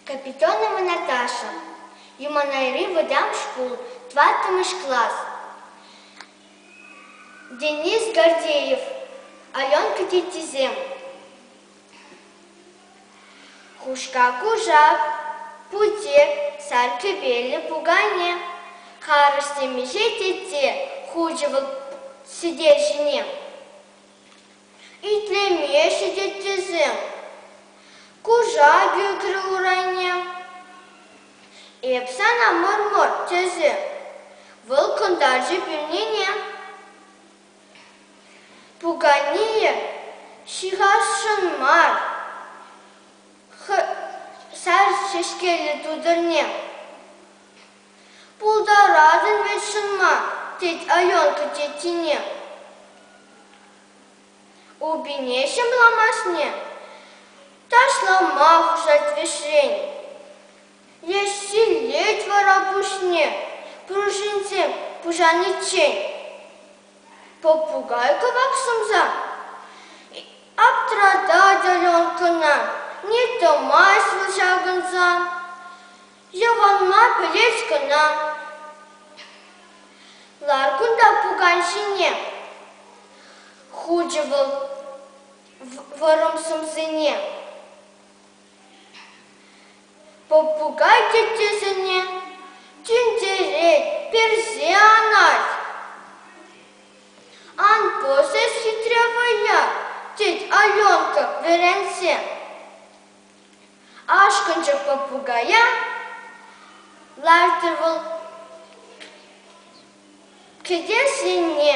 Капитонова Наташа, Юманайри вӑтам шкул, тӑваттӑмӗш класс, Денис Гордеев, Аленка теттисем, Хушка Кушак, Путек, Сар кӗпеллӗ пукане, Харӑш темиҫе тетте хучӗ вӑл сӗтел ҫине. Итлемеҫҫӗ теттесем. Кушак ӳкрӗ урайне. Эп сана мӑр-мӑр тесе. Вӑл кӑнтарчӗ пӳрнене. Пуканийӗ ҫыхасшӑн мар сар ҫеҫкеллӗ тутӑрне. Пултаратӑн вӗт ҫынма, тет Аленка тетине. Упине ҫӑмламашне ташлама хушать вӗҫрен. Леҫҫиллет вара пуҫне пуршинсем пушаниччен. Попугай кӑвак сӑмса аптратать Аленкӑна, не тӑмасть вӑл ҫакӑнса. Йӑванма пӗлес кӑна. Лар кунта пукан ҫине, хучӗ вӑл вӑрӑм сӑмсине. Попугай теттесене тӳнтерет, персе анать. Ан пӑсӑс хитре вӑя, тет Аленка вӗренсе. Ашкӑнчӗ попугая. Лартӑр вӑл кӗтес енне.